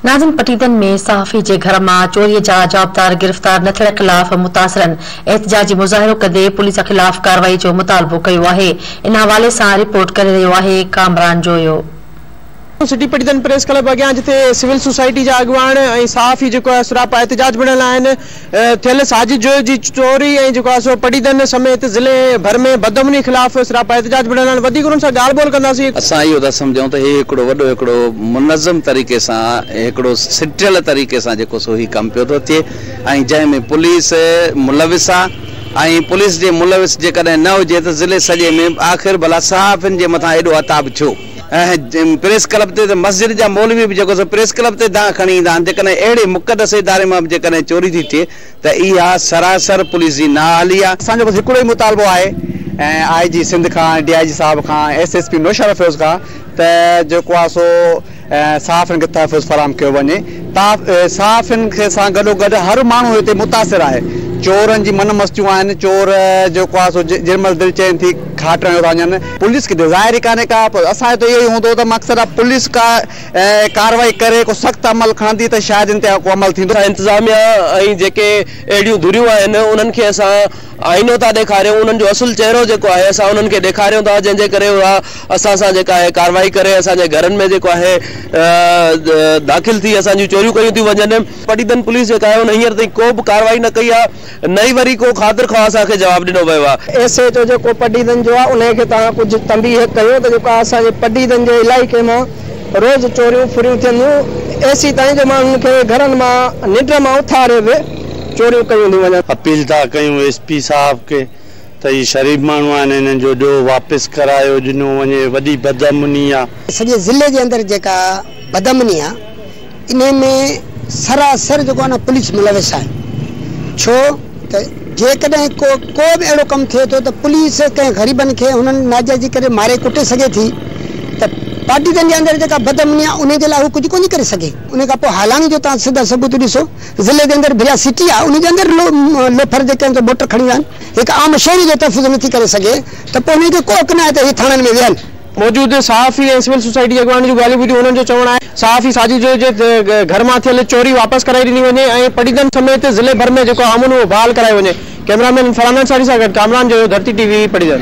ناظم پٽيدن ۾ صحافي جي گهر مان چوري جا جوابدار گرفتار نه ٿيڻ خلاف متاثرن احتجاجي مظاهرو ڪندي پوليس خلاف ڪارروائي جو مطالبو ڪيو آهي ان حوالي سان رپورٽ ڪري رهيو آهي Kamran Joyo. New city Patidan press club اڳيان جتي سول سوسائٽي جا اڳواڻ ۽ صحافي جيڪو آهي سراپا احتجاج بڻيل آهن ٿيل ساجد جويو جي چوري ۽ جيڪو آهي سو پڊعيدن سميت ضلعي ڀر ۾ بدامني خلاف سراپا احتجاج به رهندا آهن وڌيڪ انهن سان ڳالهه ٻولهه ڪنداسين. اسان اهو ٿا سمجهون ته هي هڪڙو وڏو هڪڙو منظم طريقي سان هڪڙو سٽيل طريقي سان جيڪو سو هي ڪم پيو ٿو ٿئي ۽ جنهن ۾ پوليس ملوث آهي ۽ پوليس جي ملوث جيڪڏهن نه هجي ته ضلعي سڄي ۾ آخر ڀلا صحافين جي مٿان ايڏو عتاب ڇو ۽ پريس ڪلب تي ته مسجد جا مولوي به جيڪو سو پريس ڪلب تي دانهن کڻي ايندا آهن، جيڪڏهن اهڙي مقدس اداري مان به جيڪڏهن چوري ٿي ٿئي ته اها سراسر پوليس جي نااهلي آهي. اسان جو بس هڪڙو ئي مطالبو آهي ۽ آء جي سنڌ کان، ڊي آء جي صاحب کان، S S P Naushahro Feroze کان ته جيڪو آهي سو صحافين کي تحفظ فراهم ڪيو وڃي. صحافين کي سان گڏو گڏ هر ماڻهو هتي متاثر آهي. چورن جي من مستيون آهن، چور جيڪو آهي سو جنهن مهل دل چين ٿي کاٽرن جو ٿا وڃن. پوليس کي ته ظاهر ئي ڪانهي ڪا پر اسان جو ته اهو ئي هوندو ته مقصد آهي پوليس ڪا ڪارروائي ڪري ڪو سخت عمل کڻندي ته شايد ان تي ڪو عمل ٿيندو. اسان انتظاميا ۽ جيڪي اهڙيون ڌريون آهن انهن کي اسان آئينو ٿا ڏيکاريون انهن جو اصل چهرو جيڪو آهي اسان انهن کي ڏيکاريون ٿا جنهن جي ڪري اها اسان سان جيڪا آهي ڪارروائي ڪري اسان جي گهرن ۾ جيڪو آهي داخل ٿي اسان جون چوريون ڪيون ٿيون وڃن. پٽيدن پوليس جيڪا آهي ان هينئر تائين ڪو به ڪارروائي نه ڪئي آهي. نه ئي وري ڪو خاطر خواهه اسان کي جواب ڏنو ويو آهي. ايس ايڇ او جيڪو پڊعيدن جو آهي انهي کي توهان ڪجهه تنبيهه ڪيو ته جيڪو اسان جي پڊعيدن جي علائقي مان روز چوريون ڦريون ٿين ٿيون ايسي تائين جو ماڻهن کي گهرن مان ننڊ مان اٿاري به چوريون ڪيون ٿيون وڃن. اپيل ٿا ڪيون ايس پي صاحب کي ته هي شريف ماڻهو آهن هنن جو ڏو واپس ڪرايو ڏنو وڃي وڏي بدامني آهي. سڄي ضلعي جي اندر جيڪا بدامني آهي. انهي ۾ سراسر جيڪو آهي نه پوليس ملوث آهي ڇو ته جيڪڏهن ڪو ڪو به اهڙو ڪم ٿئي ٿو ته پوليس ڪنهن غريبن کي انهن ناجائزي ڪري ماري ڪٽي سگهي ٿي ته پارٽيزن جي اندر جيڪا بدامني آهي انهي جي لاء هو ڪجهه ڪونهي ڪري سگهي انهي کان پوء هالاڻي جو توهان سڌا ثبوت ڏسو ضلعي جي اندر ڀريا سٽي آهي انهي جي اندر لوفر جيڪي آهن سو موٽر کڻي ويا آهن هڪ عام شهري جو تحفظ نٿي ڪري سگهي ته پوء انهن کي ڪو حق ناهي ته هي ٿاڻن ۾ ويهن. موجود صحافي ۽ سول سوسائٽي جي اڳواڻن جون ڳالهيون ٻڌيون، هنن جو چوڻ آهي صحافي ساجد جويي جي گهر مان ٿيل چوري واپس ڪرائي ڏني وڃي ۽ پٽيدڙن سميت ضلعي ڀر ۾ جيڪو امن اهو بحال ڪرايو وڃي، ڪئميرا مين فرحان انصاري سان گڏ ڪامران جويو ڌرتي ٽي وي پٽيدڙ.